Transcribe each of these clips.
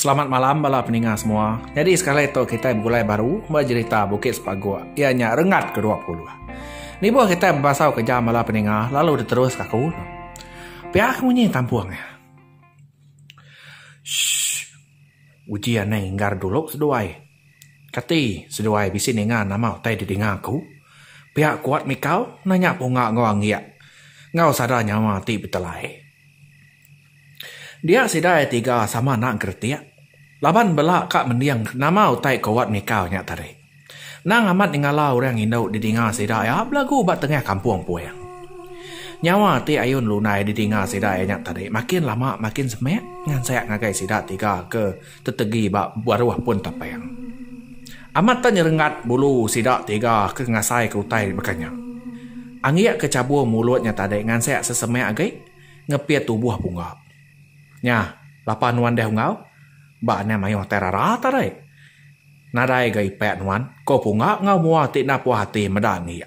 Selamat malam bala peninga semua. Nyadi sekali tu kitai begulai baru ba jerita Bukit Sepagok iya nya Rengat ke dua puluh. Nibuh kitai bebasau ke jam bala peninga lalu diteruska aku. Pia ke munyi tampung eh. Shh. Uji anai inggar dulu seduai. Kati seduai bisi ninga nama utai di dinga aku? Pia kuat mikau nanya punga enggau anggik enggau sada nyawa ti betelai. Dia sida iya tiga sama enda engkeretik laban bela ka mending nama utai kuat mikau nya tadi. Nang amat nyengala orang indu di dinga sida iya belagu ba tengah kampung puing. Nyawa ti ayu ngelundai di dinga sida iya nya tadi makin lama makin semit ngansak ngagai sida tiga ke. Tetegi ba baruh pun tapang. Amat tang nyerengat bulu sida tiga ke ngasaika utai baka nya. Anggik ke chabur mulut nya tadi ngansik sesemak agi ngepit tubuh pungga. Nya, lapa nuan deh unggau? Ba anang mayuh tai rara tadi. Nadai ga ipak nuan, ko pungga enggau mua ti enda puas ati meda Anggik.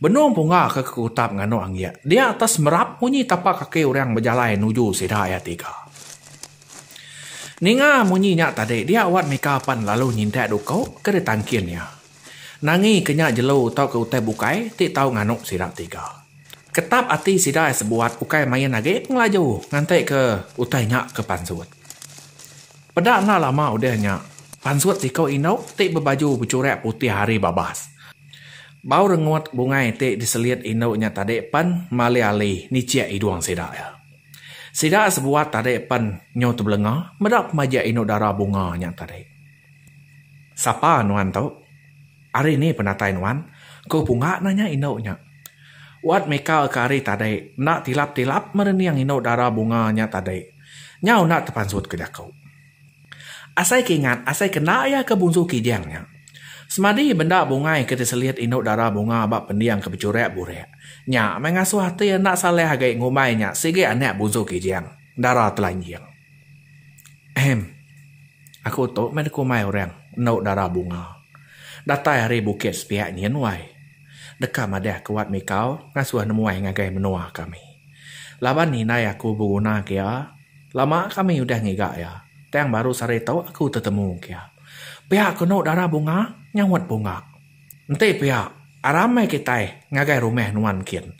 Benung pungga ke kekutap nganu Anggik dia atas merap munyi tapak kaki orang bejalai nuju sida iya tiga. Ninga munyi nya tadi dia Wat Mika pan lalu nyintak duko ke ditangkin iya. Nangi ke nya jelu tauka utai bukai ti tau nganu sida tiga. Ketap ati sida ai sebuat ukai main agi pengelaju nganti ke utai nya ke pansut. Peda enda lama udah nya pansut siko indu ti bebaju becurak putih hari babas. Bau rengut bungai ti diselit indu nya tadi pan malih ali nichik idung sida iya. Sida sebuah tadi pen nyu tebelenga meda pemaja inu dara bunga nya tadi. Sapa nuan tu? Ari ni penatai nuan? ku Punga nanya indu nya. Wat mika ka ari tadi enda tilap-tilap merening inu dara bunga nya tadi. Nyau enda tepansut ke jaku. Asai ke ingat, asai kena iya ke bunsu kijang nya. Semadi benda bungai ke diselit indu dara bunga ba pending ke bejurak-burak. Nya meh ngasuh ati enda saleh agi ngumbai nya sigi anak bunsu kijang, dara telanjing. Ehem. Aku tu meh dikumbai orang endu dara bunga. Datai ari bukit sepiak nyin wai. Deka madah ke wat mikau ngasuh nemuai ngagai menua kami. Laban indai aku begunaka iya. Lama kami udah ngiga iya, tang baru sehari tu aku tetemu engka iya. Pia kenu dara bunga nyawat bunga. Enti pia, aram meh kitai ngagai rumah nuan kin.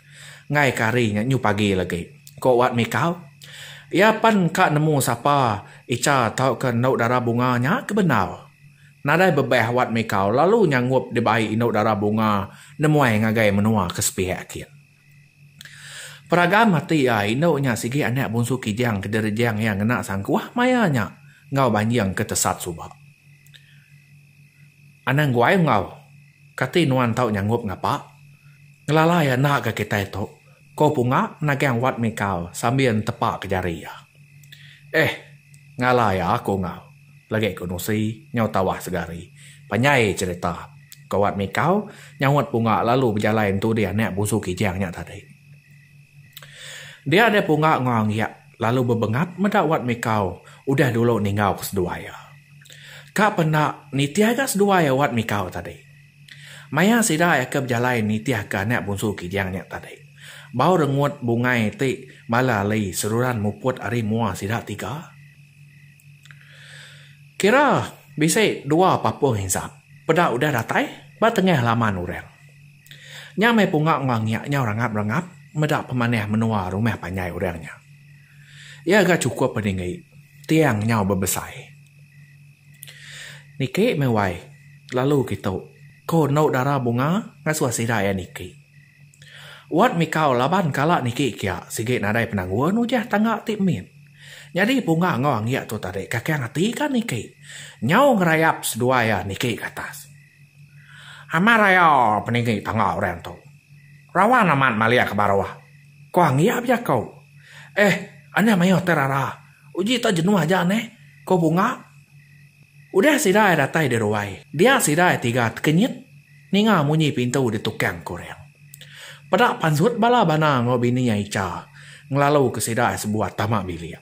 Enggaika hari nya nyu pagi lagi, ku Wat Mikau. Iya pan engka nemu sapa Icha tauka endu dara bunga nya ke bendar. Nadai bebah Wat Mikau lalu nyangup dibai endu dara bunga nemuai ngagai menua ke sepiak kin. Peragan mati iya indu nya sigi anak bunsu Kijang ke direjang iya ngena sangkuh maya nya enggau banjing ke tesat suba. Anang guai enggau, kati nuan tau nyangup ngapa ngelalai enda ga kitai tu, ko Punga menagang Wat Mikau sambil netepa ke jari iya. Eh, ngalai aku enggau. Lagi ku Nusi, nyau tawah segari. Panjai cerita. Kawat mikau, nyaut Punga lalu bejalai entu dih anak busu Kijang nya tadi. Dia deh Punga enggau Anggiak lalu bebengat meda Wat Mikau udah dulu ninggauka seduai iya. Ka pen enda nitih ga seduai iya Wat Mikau tadi. Maya sida iya ke bejalai nitihka anak busu Kijang nya tadi. Bau rengut bungai ti bala ali seruran muput ari mua sida tiga. Kira bisi dua papung insap. Peda udah datai ba tengah laman orang. Nya meh punga enggau ngiak nyau rangap rangap meda pemanah menua rumah panjai orang nya. Iya ga chukup peninggi tiang nyau bebesai. Niki meh wai lalu kitu ko endo dara bunga ngasuh sida iya niki. Wat mikau laban kala niki kia sigi nadai penanggul nujah tangga ti mit. Nyadi punga enggau anggik tu tadi kakang ati ka niki. Nyau ngerayap seduai iya niki ke atas. Amat raya peninggi tangga orang tu. Rawan amat malik ke baruh. Ko anggik bejaku. Eh anih mayuh ti rara. Uji ta jenuh aja neh. Ko punga. Udah sida iya datai di ruai. Dia sida iya tiga tekenyit. Ninga munyi pintu ditukang ke orang. Peda pansut bala bana enggau bini iya Icha ngelalu ke sida sebuah tama bilik.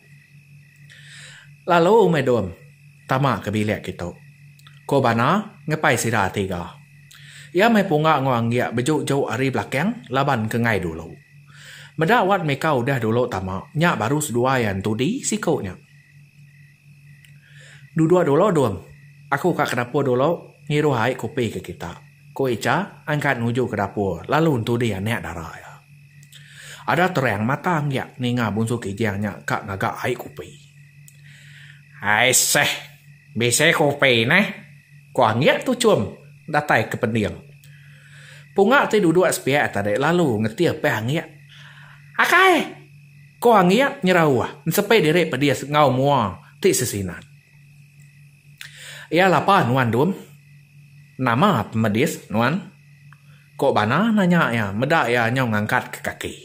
Lalu meh dom tama ke bilik kitu, ko bana ngepai sida tiga. Iya meh punga enggau anggik beju-ju ari belakang laban ke ngai dulu. Meda wat mika udah dulu tama nya baru seduai entudi siko nya. Duduk dulu Dung. Aku ka ke dapur dulu ngiruh ai kopi ke kita, ku Icha angkat nuju ke dapur lalu ntudi anak dara iya. Ada terang mata anggiak ninga Bungsu Kijang nya ka ngaga ai kopi. Ai seh, bisi kopi neh, ku anggiak tu chum datai ke pending. Punga ti duduk sepiak tadi lalu ngetih peh anggiak. Akai! Ko Angiat nyerauh ensepi diri pedis enggau mua ti sesinat. Iya lapa nuan Dum? Nama pemedis nuan? Ko Bana nanya iya meda iya nyau ngangkat ke kaki.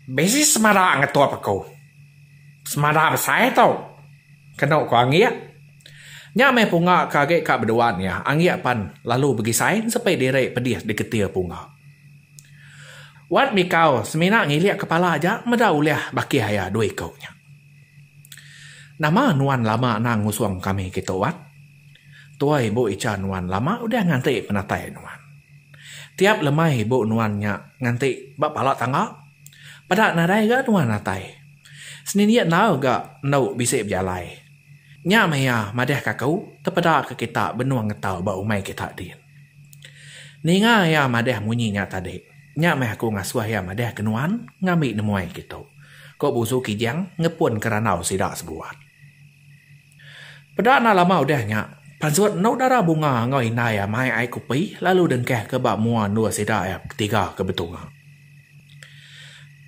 Bisi semada ngetup aku. Semada besai tu, kenu ko Angiat. Nya meh punga ke agi ka beduan iya, Angiat pan lalu begisai ensepi diri pedis di ketir punga. Wat mikau semina ngilik kepala aja meda ulih baki aya dua iku nya. Nama nuan lama anang ngusung kami ke tu Wat? Tua ibu icha nuan lama udah nganti penatai nuan. Tiap lemai ibu nuan nya nganti ba pala tangga. Peda nadai ga nuan atai. Senindik enggau ga endo bisi bejalai. Nya maya madahka aku tepeda ke kita benung ngetau ba umai kita din. Ninga iya madah munyi nya tadi. Nya meh aku ngasuh iya madah ke nuan ngambi nemuai kitu, ku Buzu Kijang ngepunka randau sida sebuat. Peda enda lama udah nya, pansut endu dara Bunga enggau indai iya mai ai kopi lalu dengkahka ba mua endur sida iya betiga ke betunga.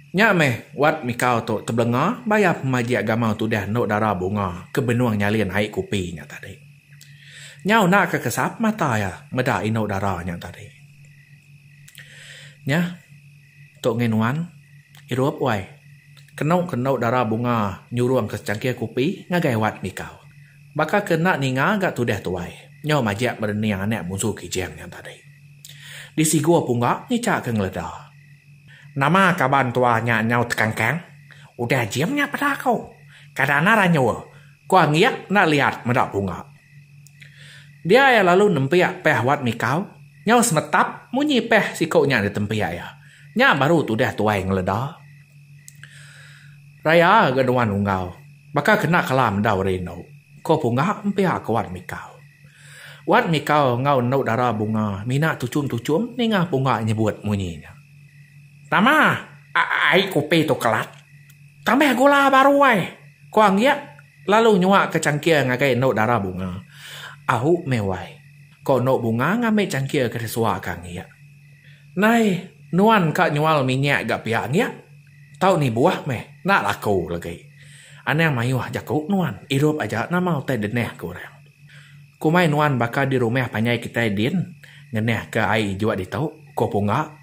Nya meh Wat Mikau tu tebelenga bayar pemajik gamal tudah endu dara Bunga ke benung nyalin ai kopi nya tadi. Nyau enda ke kesap mata iya meda indu dara nya tadi. Nyah tu ngi nuan irup wai. Kenu ke endu dara bunga nyurung ke secangkir kopi ngagai wat mikau. Baka ke enda ninga ga tudah tuai nyau majak berening anak munsu Kijang nya tadi. Disigu pungga ngicha ke ngeleda. Nama kaban tua nya nyau tekangkang? Udah jing nya peda aku. Kada nar anyur. Ku Angiak enda liat meda punga. Dia iya lalu nempiak peh wat mikau, nyau semetap munyi peh siku nya ditempiak iya. Nya baru tudah tuai ngeleda. Raya ga nuan Unggau, baka kena kala mendau ari enu, ku Punga empiak ke Wat Mikau. Wat Mikau enggau Endu Dara Bunga mina tuchum-tuchum ninga Punga nyebut munyi nya. Tama ai kopi tu kelat. Tambah gula baru ai, ku Anggiat lalu nyuaka changkir ngagai endu dara Bunga. Ahu meh wai, ku endu Bunga ngambi changkir ke disuaka Anggiat. Nai, nuan ka nyual minyak ga pia Anggiat? Tau ni buah meh, enda laku lagi. Anang mayuh jaku nuan, irup aja nama utai denah, ku orang. Ku mai nuan baka di rumah panjai kitai din ngenah ke ai ijok ditu, ku Pungga.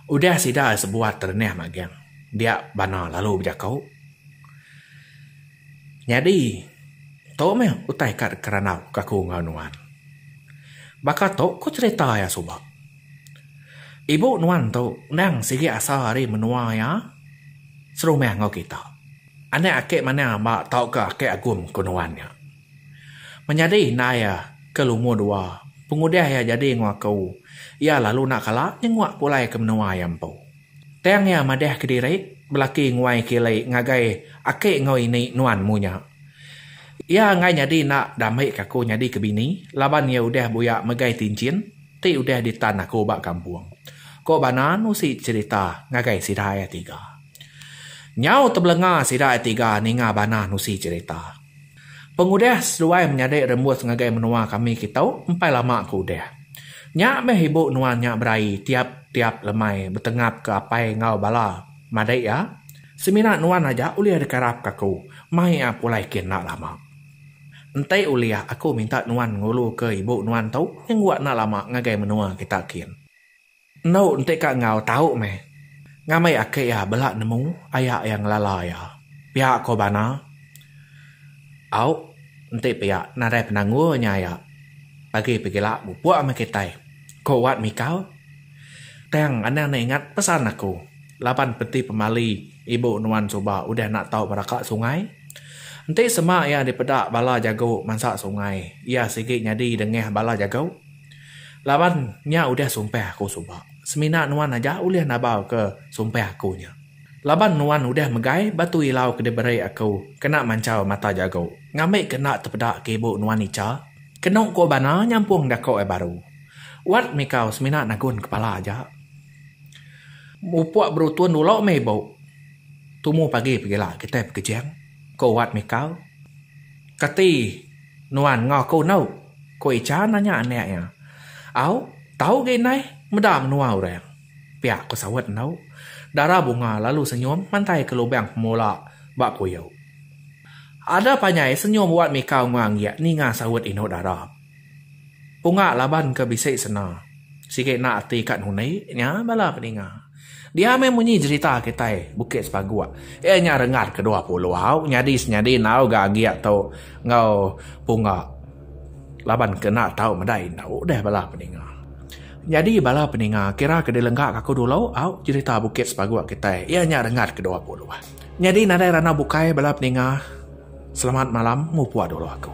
Udah sida sebuat terenah magang dia bana lalu bejako. Nyadi tu meh utai ka deka randau ke aku enggau nuan. Baka tu ku cerita iya suba. Ibu nuan tu endang sigi asa ari menua iya serumah enggau kita. Anak ake manang amba tauka ake agum ku nuan nya. Menyadi indai iya ke lumur dua, pengudah iya jadi enggau aku, iya lalu enda kala nyenguk pulai ke menua iya empu. Tang iya madah kediri belaki nguai kili ngagai ake enggau ini nuan mu nya. Iya enggai nyadi enda dambika aku nyadi ke bini laban iya udah buyak megai tinchin ti udah ditan aku ba kampung, ko Banan usi cerita ngagai sida iya tiga. Nyau tebelenga sida ai tiga ninga Banah nusi cherita. Pengudah seduai menyadi rembus ngagai menua kami kitu empai lama ke udah. Nya meh ibu nuan nya berai tiap tiap lemai betengap ke apai enggau bala madik iya. Semina nuan aja ulih dikarap ke aku mai iya pulai kin enda lama. Enti ulih aku minta nuan ngulu ke ibu nuan tu nyengguak enda lama ngagai menua kita kin. Endu enti ka enggau tau meh. Ngambi aki iya bela nemu aya iya ngelala iya. Pia ko Bana. Au enti pia nadai penanggul nya aya. Agi pegila mupuk meh kitai, ko Wat Mikal. Tang anang ne ingat pesan aku laban penti pemali ibu nuan suba udah enda tau beraka sungai. Enti sema iya dipeda bala jago mansa sungai iya sigi nyadi dengah bala jago. Laban nya udah sumpah aku suba, semina nuan aja ulih nabalka sumpah aku nya. Laban nuan udah megai batu ilau ke diberi aku kena manchal mata jago, ngambika enda tepeda ke ibu nuan icha, kenu ko bana nyampung dako ai baru. Wat mikau semina nagun kepala aja. Mupuk berutun dulu meh ibu, tumu pagi pegila kitai pekejing, ko Wat mikau. Kati. Nuan enggau aku enu? ku Icha nanya anak iya. Au, tau ga indai, meda menua orang. Pia ku saut enu. Dara Bunga lalu senyum mantai ke lubang pemula ba kuyu. Ada panjai senyum Wat Mika Unggang iya ninga saut indu dara. Punga laban ke bisi sena. Sigi enda ati ka nuni nya bala peninga. Dia meh munyi jerita kitai Bukit Sepaguk. Iya nya rengat ke dua pulau nyadi senyadi enggau ga agi tu enggau punga laban ke enda tau meda indu deh bala peninga. Nyadi bala peninga kira ke dilengga ka aku dulu au jerita Bukit Sepaguk kitai iya nya rengat ke dua pulau. Nyadi nadai randau bukai bala peninga selamat malam mupuk dulu aku.